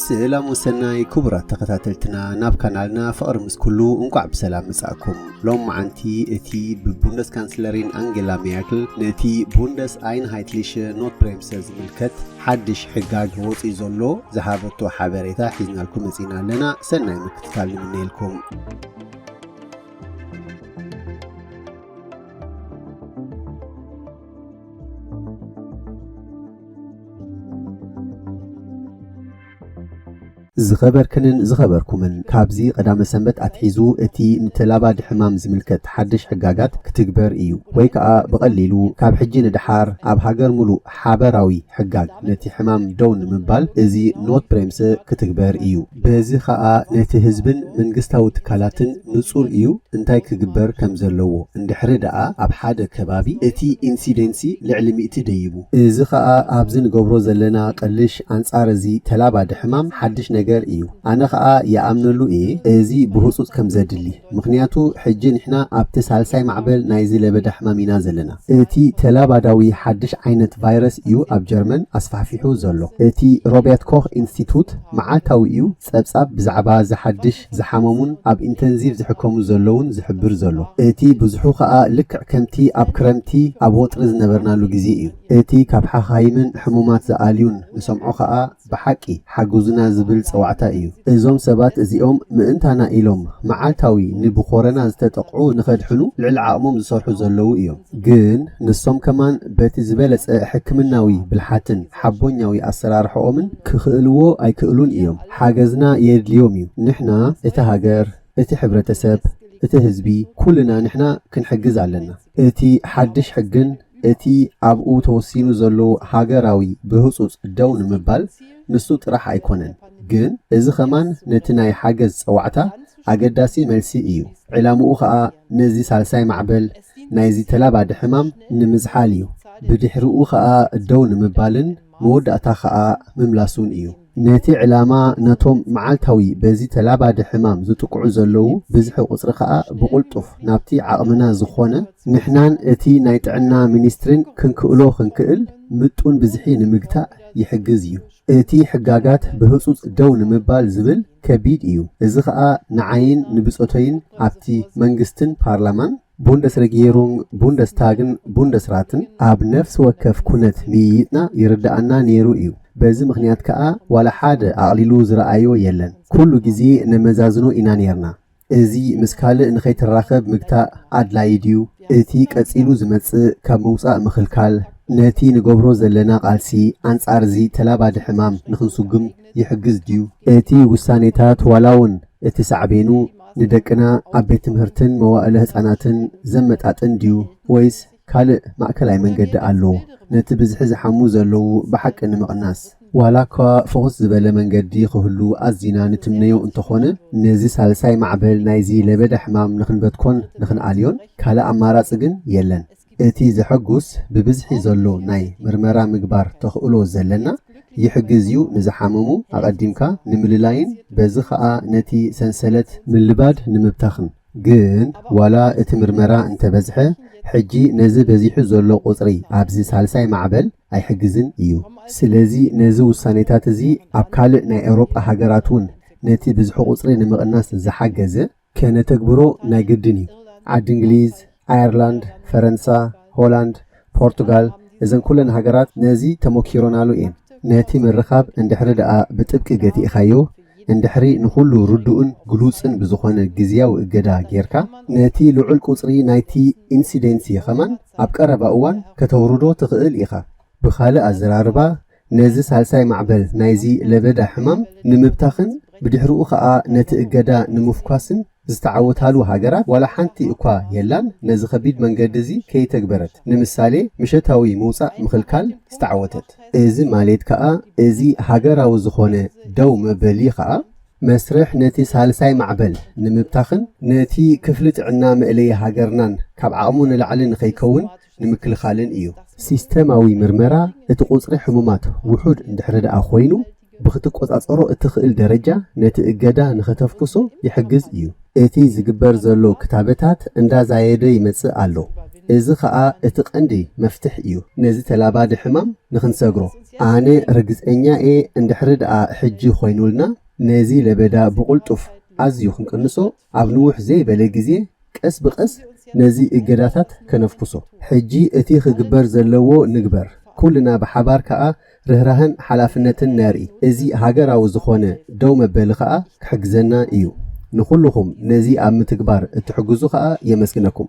ስላም ወሰናይ ክቡራት ተኸታተልትና ናብ ካናልና ፍቕሪ ምስ ኩሉ እንቋዕ ብሰላም መጻእኩም ሎም መዓንቲ እቲ ብቡንደስ ካንስለሪን ኣንጌላ ሜርክል ነቲ ቡንደስ ኣይንሃይትሊሸ ኖት ብሬምሰ ዝምልከት ሓድሽ ሕጋግ ወፂኡ ዘሎ ዝሃበቶ ሓበሬታ ሒዝናልኩም መጺና ኣለና ሰናይ ምክትታል ንምነየልኩም ዝኸበርክንን ዝኸበርኩምን ካብዚ ቀዳመ ሰንበት ኣትሒዙ እቲ ንተላባዲ ሕማም ዝምልከት ሓድሽ ሕጋጋት ክትግበር እዩ ወይ ከኣ ብቐሊሉ ካብ ሕጂ ንደሓር ኣብ ሃገር ምሉእ ሓበራዊ ሕጋግ ነቲ ሕማም ደው ንምባል እዚ ኖትብሬምሰ ክትግበር እዩ። በዚ ከኣ ነቲ ህዝብን መንግስታዊ ትካላትን ንጹር እዩ እንታይ ክግበር ከም ዘለዎ፣ እንድሕሪ ደኣ ኣብ ሓደ ከባቢ እቲ ኢንሲደንሲ ልዕሊ ሚእቲ ደይቡ። እዚ ከኣ ኣብዚ ንገብሮ ዘለና ቅልሽ ኣንጻር እዚ ተላባዲ ሕማም ሓድሽ ነገር እዩ። ኣነ ከኣ ይኣምነሉ እየ እዚ ብህጹጽ ከም ዘድሊ። ምኽንያቱ ሕጂ ንሕና ኣብቲ ሳልሳይ ማዕበል ናይዚ ለበዳ ሕማም ኢና ዘለና። እቲ ተላባዳዊ ሓድሽ ዓይነት ቫይረስ እዩ ኣብ ጀርመን ኣስፋሕፊሑ ዘሎ። እቲ ሮቤርት ኮኽ ኢንስቲቱት መዓልታዊ እዩ ጸብጻብ ብዛዕባ ዝሓድሽ ዝሓመሙን ኣብ ኢንተንዚቭ ዝሕከሙ ዘለዉን ዝሕብር ዘሎ። እቲ ብዝሑ ከኣ ልክዕ ከምቲ ኣብ ክረምቲ ኣብ ወጥሪ ዝነበርናሉ ግዜ እዩ። እቲ ካብ ሓኻይምን ሕሙማት ዝኣልዩን ንሰምዖ ከኣ፣ ብሓቂ ሓግዙና ዝብል ጸዋዕታ እዩ። እዞም ሰባት እዚኦም ምእንታና ኢሎም መዓልታዊ ንብኮረና ዝተጠቕዑ ንኸድሕኑ ልዕሊ ዓቕሞም ዝሰርሑ ዘለዉ እዮም። ግን ንሶም ከማን በቲ ዝበለጸ ሕክምናዊ ብልሓትን ሓቦኛዊ ኣሰራርሕኦምን ክኽእልዎ ኣይክእሉን እዮም። ሓገዝና የድልዮም እዩ። ንሕና እታ ሃገር፣ እቲ ሕብረተሰብ፣ እቲ ህዝቢ ኩልና ንሕና ክንሕግዝ ኣለና። እቲ ሓድሽ ሕግን እቲ ኣብኡ ተወሲኑ ዘሎ ሃገራዊ ብህጹጽ ደው ንምባል ንሱ ጥራሕ ኣይኮነን፣ ግን እዚ ከማን ነቲ ናይ ሓገዝ ጸዋዕታ ኣገዳሲ መልሲ እዩ፣ ዕላምኡ ከኣ ነዚ ሳልሳይ ማዕበል ናይዚ ተላባዲ ሕማም ንምዝሓል እዩ፣ ብድሕርኡ ከኣ ደው ንምባልን መወዳእታ ከኣ ምምላሱን እዩ። ነቲ ዕላማ ነቶም መዓልታዊ በዚ ተላባዲ ሕማም ዝጥቅዑ ዘለዉ ብዝሒ ቁጽሪ ከኣ ብቕልጡፍ ናብቲ ዓቕምና ዝኾነ ንሕናን እቲ ናይ ጥዕና ሚኒስትሪን ክንክእሎ ክንክእል ምጡን ብዝሒ ንምግታእ ይሕግዝ እዩ። እቲ ሕጋጋት ብህጹጽ ደው ንምባል ዝብል ከቢድ እዩ። እዚ ከኣ ንዓይን ንብጾተይን ኣብቲ መንግስትን ፓርላማን፣ ቡንደስረጊየሩንግ፣ ቡንደስታግን ቡንደስራትን ኣብ ነፍሲ ወከፍ ኩነት ምይይጥና ይርደኣና ነይሩ እዩ። በዚ ምኽንያት ከኣ ዋላ ሓደ ኣቕሊሉ ዝረኣዮ የለን። ኩሉ ግዜ ነመዛዝኖ ኢና ነይርና። እዚ ምስ ካልእ ንኸይትራኸብ ምግታእ ኣድላዪ ድዩ? እቲ ቀጺሉ ዝመጽእ ካብ ምውጻእ ምኽልካል፣ ነቲ ንገብሮ ዘለና ቃልሲ ኣንጻር እዚ ተላባዲ ሕማም ንኽንስጉም፣ ይሕግዝ ድዩ? እቲ ውሳኔታት ዋላውን እቲ ሳዕቤኑ ንደቅና ኣብ ቤት ትምህርትን መዋእለ ህጻናትን ዘመጣጥን ድዩ ወይስ ካልእ ማእከላይ መንገዲ ኣሎ ነቲ ብዝሒ ዝሓሙ ዘለዉ ብሓቂ ንምቕናስ? ዋላኳ ፍኹስ ዝበለ መንገዲ ክህሉ ኣዚና ንትምነዮ እንተኾነ ነዚ ሳልሳይ ማዕበል ናይዚ ለበዳ ሕማም ንክንበትኮን ንክንኣልዮን ካልእ ኣማራጺ ግን የለን። እቲ ዘሐጉስ ብብዝሒ ዘሎ ናይ ምርመራ ምግባር ተኽእሎ ዘለና ይሕግዝ ዩ ንዝሓመሙ ኣቐዲምካ ንምልላይን በዚ ኸኣ ነቲ ሰንሰለት ምልባድ ንምብታኽን። ግን ዋላ እቲ ምርመራ እንተበዝሐ ሕጂ ነዚ በዚሑ ዘሎ ቁጽሪ ኣብዚ ሳልሳይ ማዕበል ኣይሕግዝን እዩ። ስለዚ ነዚ ውሳኔታት እዚ ኣብ ካልእ ናይ ኤውሮጳ ሃገራት ውን ነቲ ብዝሒ ቁጽሪ ንምቕናስ ዝሓገዘ ከነተግብሮ ናይ ግድን እዩ። ዓዲ እንግሊዝ፣ ኣየርላንድ፣ ፈረንሳ፣ ሆላንድ፣ ፖርቱጋል እዘን ኩለን ሃገራት ነዚ ተሞኪሮናሉ እየን። ነቲ ምርኻብ እንድሕሪ ደኣ ብጥብቂ ገቲእኻዮ፣ እንድሕሪ ንኹሉ ርዱእን ግሉጽን ብዝኾነ ግዝያዊ እገዳ ጌርካ፣ ነቲ ልዑል ቁጽሪ ናይቲ ኢንሲደንሲ ከማን ኣብ ቀረባ እዋን ከተውርዶ ትኽእል ኢኻ። ብኻልእ ኣዘራርባ ነዚ ሳልሳይ ማዕበል ናይዚ ለበዳ ሕማም ንምብታኽን ብድሕርኡ ከኣ ነቲ እገዳ ንምፍኳስን ዝተዓወታሉ ሃገራት ዋላ ሓንቲ እኳ የላን፣ ነዚ ከቢድ መንገዲ እዚ ከይተግበረት፣ ንምሳሌ ምሸታዊ ምውጻእ ምኽልካል ዝተዓወተት። እዚ ማሌት ከኣ እዚ ሃገራዊ ዝኾነ ደው መበሊ ከኣ መስርሕ ነቲ ሳልሳይ ማዕበል ንምብታኽን ነቲ ክፍሊ ጥዕና መእለዪ ሃገርናን ካብ ዓቕሙ ንላዕሊ ንኸይከውን ንምክልኻልን እዩ። ሲስተማዊ ምርመራ እቲ ቁጽሪ ሕሙማት ውሑድ እንድሕሪ ደኣ ኮይኑ ብክትቆጻጸሮ እትኽእል ደረጃ ነቲ እገዳ ንኸተፍኩሶ ይሕግዝ እዩ። እቲ ዝግበር ዘሎ ክታበታት እንዳዛየደ ይመጽእ ኣሎ፣ እዚ ኸኣ እቲ ቀንዲ መፍትሕ እዩ ነዚ ተላባዲ ሕማም ንኽንሰግሮ። ኣነ ርግጸኛ እየ እንድሕሪ ደኣ ሕጂ ኮይኑልና ነዚ ለበዳ ብቁልጡፍ ኣዝዩ ክንቅንሶ ኣብ ንውሕ ዘይበለ ግዜ ቀስ ብቀስ ነዚ እገዳታት ከነፍኩሶ። ሕጂ እቲ ክግበር ዘለዎ ንግበር፣ ኩልና ብሓባር ከኣ ርህራሀን ሓላፍነትን ነርኢ። እዚ ሃገራዊ ዝኾነ ደው መበሊ ከኣ ክሕግዘና ኢዩ። ንኹሉኹም ነዚ ኣብ ምትግባር እትሕግዙ ከኣ የመስግነኩም።